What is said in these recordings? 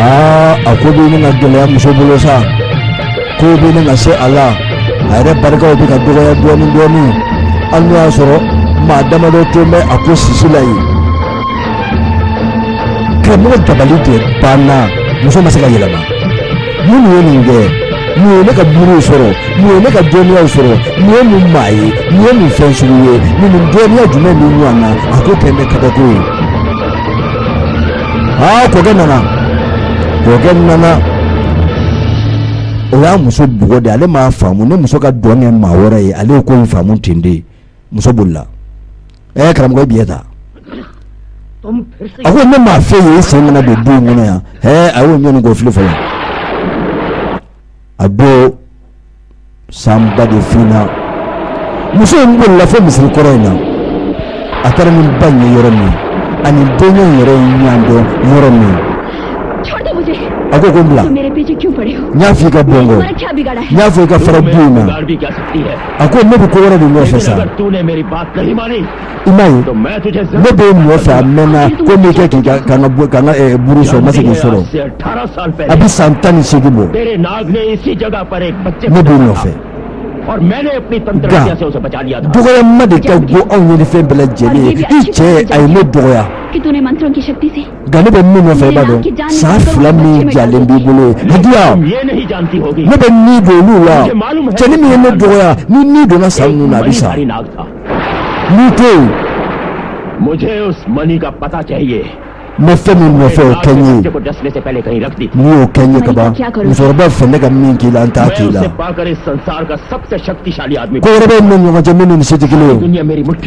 aa a ko bɛ ɲini ka gɛlɛya muso bolo sa ko bɛ ɲini ka se a la a yɛrɛ barikaw bɛ ka dɔgɔya dɔɔnin dɔɔnin hali n'o y'a sɔrɔ maa damadɔ tun bɛ a ko sisi la yen karamɔgɔ dabali de banna muso ma se ka yɛlɛma mun ye nin kɛ mun ye ne ka buruw sɔrɔ mun ye ne ka dɔnniyaw sɔrɔ mun ye mun maa ye mun ye mun fɛn sugu ye nin nin dɔnniya jumɛn ni ɲɔgɔn na a ko kɛlen kabako ye aa kɔkɛ nana kɔkɛ nana o y'a muso bugɔ de ale m'a faamu ne muso ka dɔn kɛ maa wɛrɛ ye ale ye ko in faamu ten de muso bolila ɛɛ karamɔgɔ ye biɲɛ ta a ko ne m'a fɔ i ye i sen kana don du in kɔnɔ yan ɛɛ a y'o ɲɔni k'o fili fɔlɔ a don sanba de finna muso in bolila fo misiri kɔrɔ in na a taara ni ba in ye yɔrɔ min a ni denkɛ in yɛrɛ ye ɲɔgɔn dɔn yɔrɔ min a ko ko n bila n y'a fɔ i ka bɔ n kɔ n y'a fɔ i ka fara du in na a ko ne bɛ ko wɛrɛ de nɔfɛ sa i m'a ye ne b'i nɔfɛ a mɛnna ko n'i kɛ k'i ka ka n ka ka n ka eh, buru sɔrɔ n ma se k'i sɔrɔ a bɛ san tan ni seegin bɔ ne b'o nɔfɛ nka dɔgɔyama de ka go anw ɲinifɛn bɛɛ lajɛlen ye i cɛ a ye ne dɔgɔya nka ne bɛ min nɔfɛ i b'a dɔn sa fila min jalen b'i bolo ye a di yan ne bɛ ni don olu la cɛnin min ye ne dɔgɔya ni ni donna sa ninnu na a bɛ sa n'i tɛ ne bɛ fɛn min nɔfɛ o kɛ n ye n'i y'o kɛ n ye kaban musokɔrɔba fɛ ne ka min k'i la n t'a k'i la ko wɛrɛ b'an ni ɲɔgɔn cɛ minnu ni se tɛ kelen ye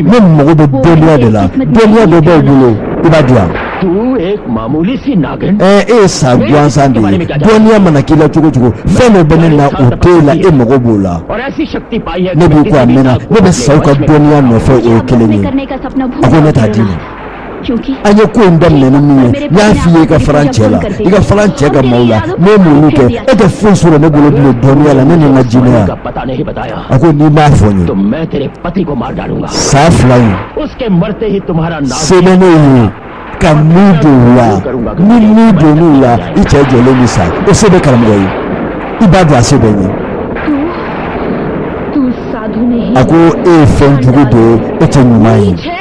ne mago bɛ dɔnniya de la dɔnniya dɔ b'aw bolo i b'a di yan ɛɛ e ye sa gansan de ye dɔnniya mana k'i la cogo cogo fɛn dɔ bɛ ne na o t'e la e mago b'o la ne b'i kɔ a mɛnna ne bɛ saw ka dɔnniya nɔfɛ o ye kelen ye a ko ne t'a d'i ma. an ye ko in daminɛ ni min ye n y'a f'i ye i ka fara n cɛ la i ka fara n cɛ ka maaw la ne ye mun kɛ e tɛ foyi sɔrɔ ne bolo bilen dɔnniya la ne ni n ka jinɛya a ko n'i m'a fɔ n ye sa fila in se bɛ ne ye ka ni don u la ni ni donn'u la i cɛ jɔlen bɛ sa o se bɛ karamɔgɔ ye i b'a dɔn a se bɛ n ye a ko e ye fɛn jugu de ye e tɛ ɲuman ye.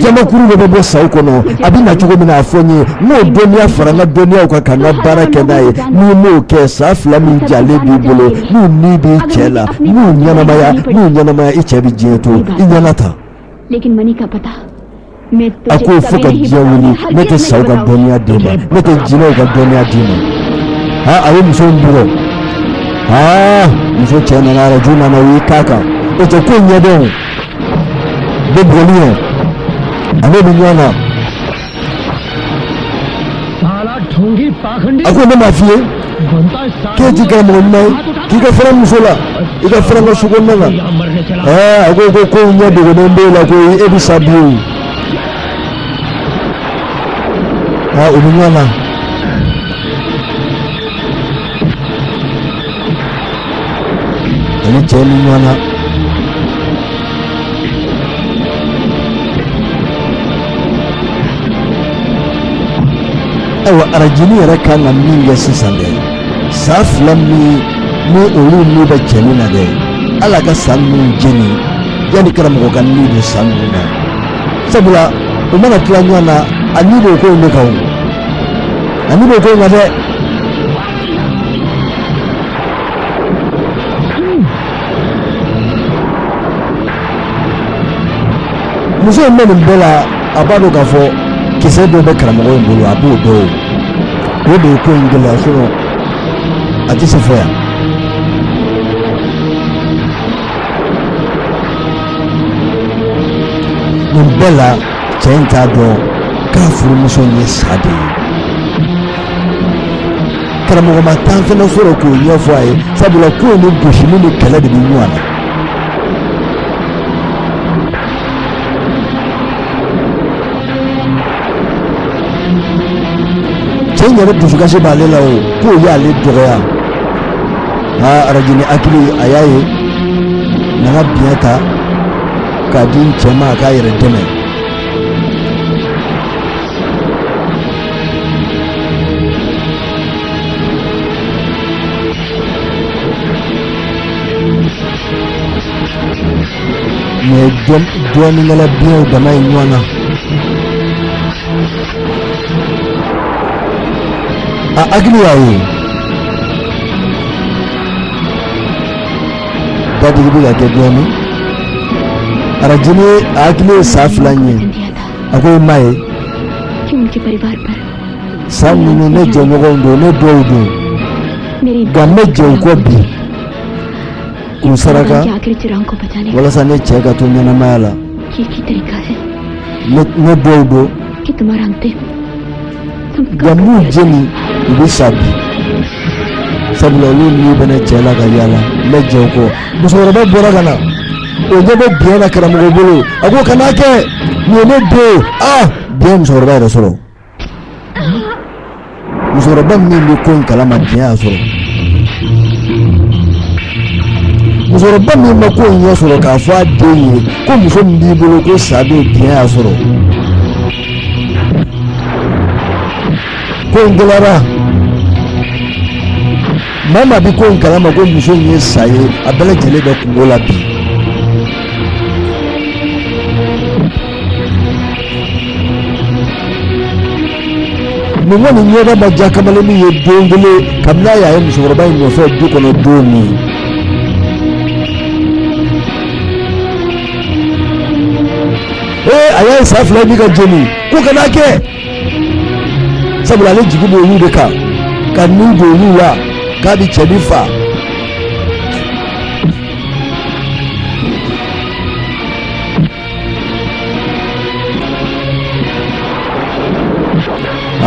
jamankuru de bɛ bɔ saw kɔnɔ a bɛ na cogo min na a fɔ n ye n k'o dɔnniya fara n ka dɔnniyaw kan ka n ka baara kɛ n'a ye n'i m'o kɛ sa fila min jalen b'i bolo n'u ni b'i cɛ la n'u ɲɛnamaya n'u ɲɛnamaya i cɛ bɛ diɲɛ to i ɲɛna ta a ko fo ka diɲɛ wuli ne tɛ saw ka dɔnniya d'i ma ne tɛ jinɛw ka dɔnniya d'i ma ha a ye muso in bugɔ ha muso cɛ nana araju nana o y'i k'a kan o tɛ ko ɲɛdɔn de boli. A n'o bɛ ɲɔgɔn na. A ko ne m'a f'i ye k'e ti karamɔgɔ ɲuman ye k'i ka fara n muso la i ka fara n ka sokɔnɔna na a ko ko ko ɲɛ dogolen b'e la ko e bɛ sa bi o aa u bɛ ɲɔgɔn na. ani cɛ ni ɲɔgɔn na ayiwa arajini yɛrɛ kan ka min kɛ sisan dɛ sa fila min ni olu ni bɛ cɛ nin na dɛ ale ka sa ninnu jeni yanni karamɔgɔ ka ni don sa ninnu na sabula u mana tila ɲɔgɔn na a ni b'o ko in de kan o a ni b'o ko in na dɛ muso in bɛ nin bɛɛ la a b'a dɔn k'a fɔ kisɛ dɔ bɛ karamɔgɔ in bolo a b'o dɔn o o de ye ko in gɛlɛya sinɔ a tɛ se fo yan nin bɛɛ la cɛ in t'a dɔn k'a furumuso in ye sa de ye karamɔgɔ ma tan fɛnɛ sɔrɔ k'o ɲɛfɔ a ye sabula ko in ni gosili ni kɛlɛ de bɛ ɲɔgɔn na cɛ in yɛrɛ dusukasi b'ale la o k'o y'ale dɔgɔya aa arajini hakili a y'a ye nana biɲɛ ta k'a di n cɛ ma a k'a yɛrɛ dɛmɛ mɛ dɔnnikɛla biɲɛw dama ye ɲɔgɔn na a hakili y'a ye dadigi bɛ ka kɛ dɔɔnin arajini a hakili ye sa fila in ye a ko i ma ye sa ninnu ne jɛɲɔgɔnw don ne dɔw don nka n bɛ jɛ u kɔ bi k'u saraka walasa ne cɛ ka to ɲɛnamaya la ne dɔw don ja n b'u jeni u bɛ sa bi sabula olu ni bɛna cɛ la ka yaala n bɛ jɛ u kɔ musokɔrɔba bɔra ka na o ɲɛ bɛ biɲɛ na karamɔgɔ bolo a ko kana kɛ nin ye ne den ah biɲɛ musokɔrɔba yɛrɛ sɔrɔ musokɔrɔba min bɛ ko in kalama biɲɛ y'a sɔrɔ musokɔrɔba min ma ko in ɲɛ sɔrɔ k'a fɔ a den ye ko muso min b'i bolo ko sa bɛ biɲɛ y'a sɔrɔ ko in gɛlɛyara maa maa bɛ ko in kalama ko muso in ye sa ye a bɛɛ lajɛlen bɛ kungo la bi. nin kɔni ɲɛda ma diya kamalen min ye don kelen kabini a y'a ye musokɔrɔba in nɔfɛ du kɔnɔ don min. ee a y'a ye sa fila bɛ ka jeni ko kana kɛ sabula ale jigi b'olu de kan ka nun don olu la k'a bɛ cɛnin fa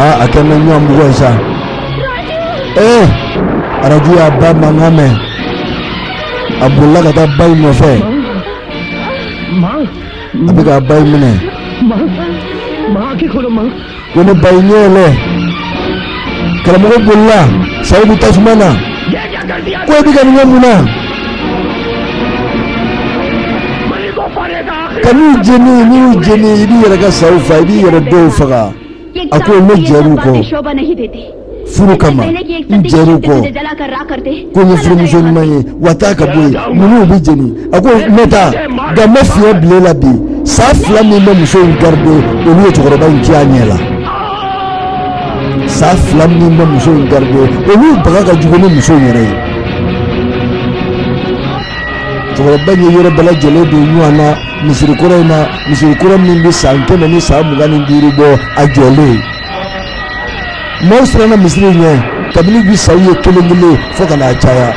aa a kɛlen bɛ ɲɔgɔn bugɔ ye sa ee arajo y'a ba mankan mɛn a bolila ka taa ba in nɔfɛ a bɛ k'a ba in minɛ ko ne ba in ɲɛ yɛlɛ karamɔgɔ bolila saw bɛ tasuma na ko e bɛ ka nin kɛ mun na kan'u jeni n'i y'u jeni i b'i yɛrɛ ka saw fa i b'i yɛrɛ dɔw faga a ko ne jɛr'u kɔ furu kama n jɛr'u kɔ ko n ye furumuso ɲuman ye wa taa ka bɔ yen ninnu bɛ jeni a ko n bɛ taa nka n bɛ fiɲɛ bila e la bi sa fila min bɛ muso in garide olu ye cɛkɔrɔba in cin a ɲɛ la sa fila min bɛ muso in garide olu baga ka jugu ni muso in yɛrɛ ye cɛkɔrɔba in ye yɔrɔ bɛɛ lajɛlen don ɲɔgɔn na misiri kɔrɔ in na misiri kɔrɔ min bɛ san kɛmɛ ni san mugan ni duuru bɔ a jɔlen maaw siranna misiri ɲɛ kabini bi saw ye kelen kelen fo ka n'a caya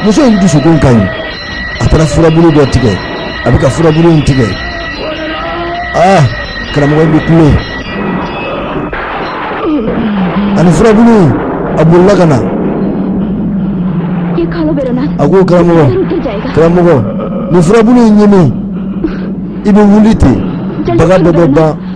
muso in dusukun ka ɲi a taara furabulu dɔ tigɛ a bɛ ka furabulu in tigɛ aa karamɔgɔ in bɛ kule a ni furabulu in a bolila ka na a ko karamɔgɔ karamɔgɔ nin furabulu in ɲimi i bɛ wuli ten baga bɛɛ bɛ ban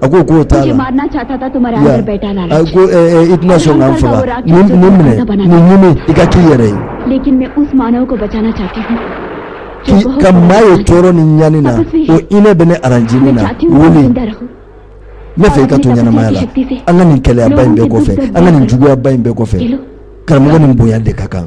a ko k'o t'a la a ko i tɛna sa n fa nin minɛ nin ɲimi i ka k'i yɛrɛ ye ka maa ye tɔɔrɔ ni ɲani na o hinɛ bɛ ne arajini na wuli ne fɛ i ka to ɲɛnamaya la an ka nin kɛlɛyaba in bɛɛ kɔfɛ an ka nin juguyaba in bɛɛ kɔfɛ karamɔgɔ ni bonya de ka kan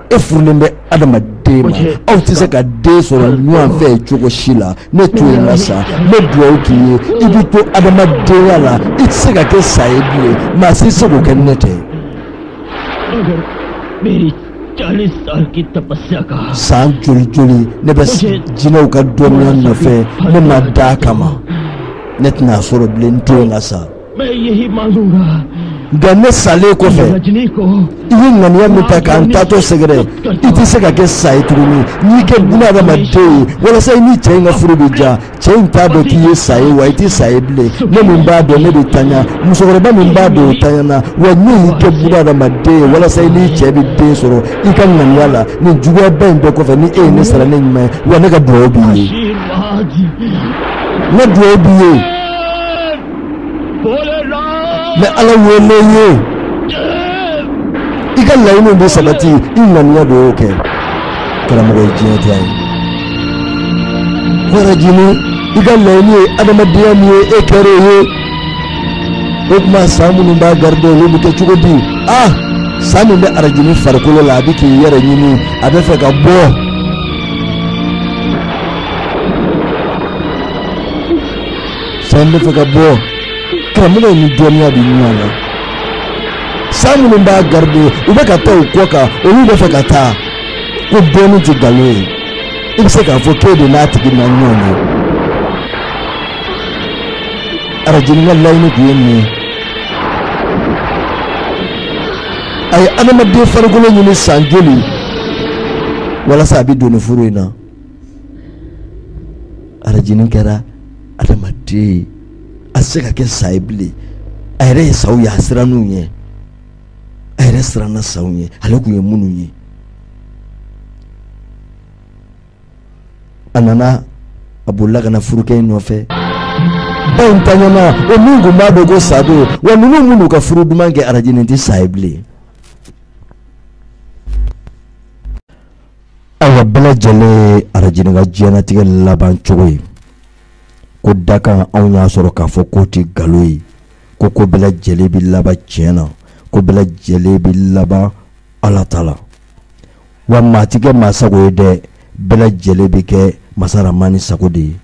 e furulen bɛ adamaden ma aw tɛ se ka den sɔrɔ ɲɔgɔn fɛ cogo si la ne to yen n ka sa ne dugawu k'i ye i bɛ to adamadenya la i tɛ se ka kɛ sa ye bilen maa si se k'o kɛ ne tɛ. san joli joli ne bɛ jinɛw ka dɔnniya nɔfɛ ne ma da a kama ne tɛna a sɔrɔ bilen n to yen n ka sa. nka ne salen kɔfɛ i ye ŋaniya min ta ka n taatɔ sɛgɛrɛ i tɛ se ka kɛ sa ye tuguni n y'i kɛ buna adamaden ye walasa i ni cɛ in ka furu bɛ diya cɛ in t'a dɔn k'i ye sa ye wa i tɛ sa ye bilen ne min b'a dɔn ne bɛ taɲa musokɔrɔba min b'a dɔn o taɲana wa ne y'i kɛ buna adamaden ye walasa i n'i cɛ bɛ den sɔrɔ i ka ŋaniya la nin juguyaba in bɛɛ kɔfɛ ni e ye ne sara ni ɲuman ye wa ne ka dugawu b'i ye ne dugawu b'i ye. n bɛ ala wele i ye i ka laɲiniw bɛ sabati i ŋaniya de y'o kɛ karamɔgɔ ye diɲɛ diya ye arajini i ka laɲini ye adamadenya min ye e kɛra o ye o tuma sa minnu b'a garide olu bɛ kɛ cogo di ah sa min bɛ arajini farikolo la a bɛ k'i yɛrɛ ɲini a bɛ fɛ ka bɔ. sa in bɛ fɛ ka bɔ karamɔgɔ ni dɔnniya bɛ ɲɔgɔn na sa minnu b'a garide u bɛ ka taa u kɔ kan olu bɛ fɛ ka taa ko dɔnni tɛ nkalon ye i bɛ se k'a fɔ k'e de n'a tigi ma ɲɔgɔn ye arajini ka laɲini tun ye min ye a ye adamaden farikolo ɲini san joli walasa a bɛ don nin furu in na. arajinin kɛra adamaden ye a tɛ se ka kɛ sa ye bilen a yɛrɛ ye saw ye a sirann'u ɲɛ a yɛrɛ siranna saw ɲɛ ale tun ye minnu ye a nana a bolila ka na furukɛ in nɔfɛ ba in ntanyana o min tun b'a dɔn ko sa don wa ninnu bɛn'u ka furu duman kɛ arajinin tɛ sa ye bilen Ayiwa bɛɛ lajɛlen ye arajinin ka diɲɛnatigɛ laban cogo ye ko dakan aw y'a sɔrɔ k'a fɔ k'o tɛ nkalon ye ko ko bɛɛ lajɛlen bɛ laban tiɲɛ na ko bɛɛ lajɛlen bɛ laban ala ta la wa maa tɛ kɛ maa sago ye dɛ bɛɛ lajɛlen bɛ kɛ masa ramani sago de ye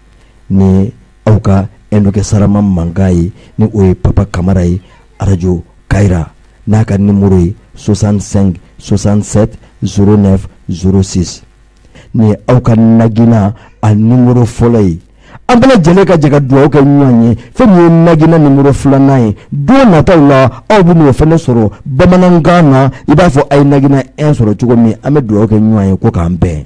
ni aw ka Enoke Sarama mankan ye ni o ye Papa Kamara ye Radio Kayira n'a ka numéro ye 65 67 09 06 nin ye aw ka Nagina a numéro fɔlɔ ye an bɛɛ lajɛlen ka jɛ ka dugawu kɛ ɲɔgɔn ye fɛn min ye Nagina numéro filanan ye don nataw la aw bɛn'o fɛnɛ sɔrɔ bamanankan na i b'a fɔ a ye Nagina 1 sɔrɔ cogo min an bɛ dugawu kɛ ɲɔgɔn ye ko k'an bɛn